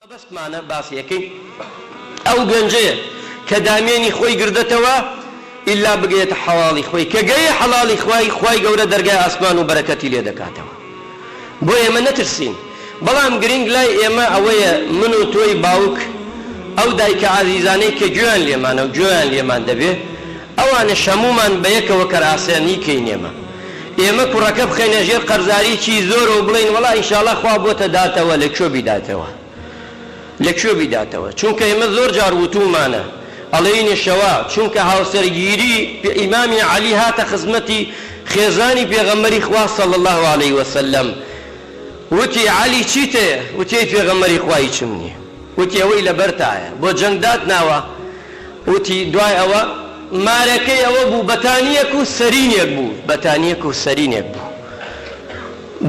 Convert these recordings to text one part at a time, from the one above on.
مەبەستمانە باسیەکەین ئەو گەنجەیە کە دامێنی خۆی گردەتەوە ئیلا بگەیەتە حەڵاڵی خۆی کە گەیە حەڵاڵی خوای خوای گەورە دەرگای ئاسمان و بەرەکەتی لێ دەکاتەوە بۆ ئێمە نەترسین بەڵام گرینگ لای ئێمە ئەوەیە من و تۆی باوک ئەو دایکە ئازیزانەی کە گوێیان لێمانە و گوێیان لێمان دەبێ ئەوانەش هەموومان بەیەکەوە کەرئاسانی کەین ئێمە ئێمە کوڕەکە بخەینە ژێر قەرزاری چی زۆرەو بڵێین وەڵا ئینشاڵا خوا بۆتە داتەوە لە کوێ بیداتەوە لە کوێ بیداتەوە چونکە ئێمە زۆر جار وتومانە ئەڵێینشەوا چونکە هاوسەرگیری ئیمامی عەلی هاتە خزمەتی خێزانی پێغەمبەری خوا صلی اللە علیه وسلم وتی عەلی چیت هەیە وتی ئەی پێغەمبەری خوا هیچم نییە وتی ئەوەی لەبەرتایە بۆ جەنگ داتناوە وتی، دوای ئەوە مارەکەی ئەوە بوو بەتانییەک و سەرینێک بوو، بەتانییەک و سەرینێک بوو،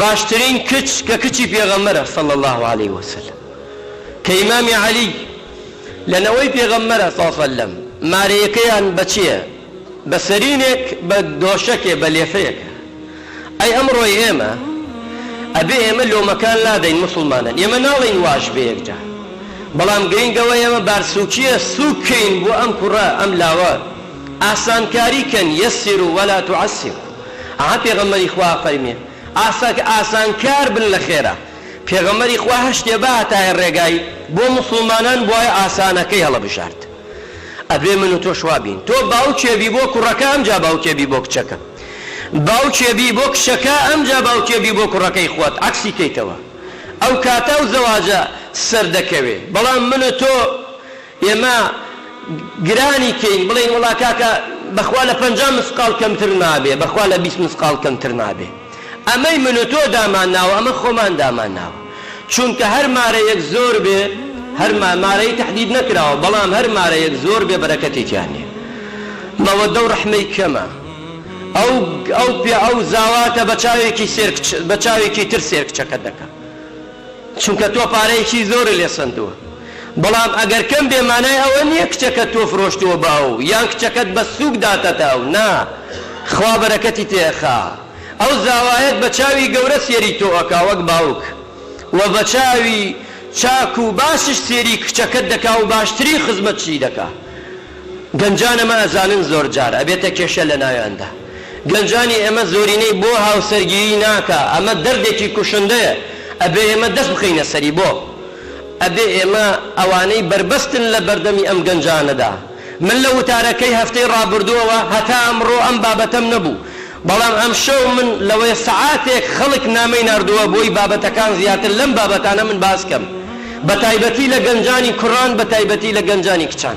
باشترین کچ کە کچی پێغەمبەرە صلی اللە علیە وسلم کە ئیمامی علی لە نەوەی پێغەمبەرە ص اللە مارەیەکەیان بە چێ بە سەرینێک بە دۆشەکێ بە لێفەیەکە ئەی ئەمڕۆی ئێمە ئەبێ ئێمە لۆمەکان لادەین موسڵمانن ئێمە ناڵێین واش بێ یەکجا بەڵام گرینگ ئەوەیە ئێمە بارسوکیە سوک کەین بۆ ئەم کوڕە ئەم لاوە ئاسانکاری کەن یسرو ولا تعسرو ئەها پێغەمبەری خوا فەرمی ئاسا ئاسان کار بن لە خێرا پێغەمبەری خوا هەر شتێ باتایە ڕێگای بۆ موسڵمانان بوایە ئاسانەکەی هەڵە بژارد. ئەبێ من و تۆش وا بین. تۆ باوکێ بی بۆ کوڕەکە ئەمجا باوکێ بی بۆ کچەکە. باوکێ بی بۆ کچەکە ئەمجا باوکێ بی بۆ کوڕەکەی خۆت عەکسی کەیتەوە. ئەو کاتە ئەو زەواجە سەر دەکەوێ. بەڵام من و تۆ ئێمە گرانی کەین بڵێین وەڵا کاکە بەخوا لە پەنجا مسقاڵ کەمتر نابێ بەخوا لە بیست مسقاڵ کەمتر نابێ. ئەمەی من و تۆ دامان ناوە ئەمە خۆمان دامان ناوە چونکە هەر مارەیەک زۆر بێ هەر ما مارەی تەحدید نەکراوە بەڵام هەر مارەیەک زۆر بێ بەرەکەتی تیا نیە مەوەدەو ڕەحمەی کەمە ئەو ئەو پێ ئەو زاواتە بە چاوێکی سێر کچ بە چاوێکی تر سێر کچەکەت دەکا. چونکە تۆ پارەیەکی زۆرت لێ سەندووە بەڵام ئەگەر کەم بێ مانای ئەوە نییە کچەکەت تۆ فرۆشتووە بە ئەو یان کچەکەت بە سووک داتتە ئەو نا خوا بەرەکەتی تێ ئەخا ئەو زاوایەت بە چاوی گەورە سێری تۆ ئەکا وەک باوک وە بە چاوی چاک و باشش سێری کچەکەت دەکا و باشترین خزمەتشی دەکا گەنجان ئەمە ئەزانن زۆرجار ئەبێتە کێشە لەناویاندا گەنجانی ئێمە زۆرینەی بۆ هاوسەرگیری ناکا ئەمە دەردێکی کوشندەیە ئەبێ ئێمە دەست بخەینە سەری بۆ ئەبێ ئێمە ئەوانەی بەربەستن لەبەردەمی ئەم گەنجانەدا من لە وتارەکەی هەفتەی ڕابردوەوە هەتا ئەمڕۆ ئەم بابەتەم نەبوو بەڵام ئەمشەو من لەوەی سەعاتێک خەڵک نامەی ناردووە بۆی بابەتەکان زیاتر لەم بابەتانە من باس کەم بە تایبەتی لە گەنجانی کوران بە تایبەتی لە گەنجانی کچان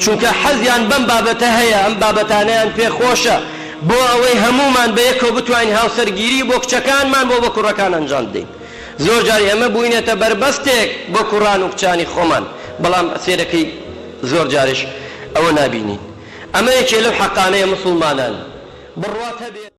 چونکە حەزیان بەم بابەتە هەیە ئەم بابەتانەیان پێ خۆشە بۆ ئەوەی هەموومان بە یەکەوە بتوانین هاوسەرگیری بۆ کچەکانمان بۆ بە کوڕەکان ئەنجام بدەین زۆر جار ئێمە بووینەتە بەربەستێک بۆ کوڕان و کچانی خۆمان بەڵام سێرەکەی زۆر جاریش ئەوە نابینین. ئەمە یەکێ لەو حەقانەیە موسوڵمانان بڕوات هەبێ.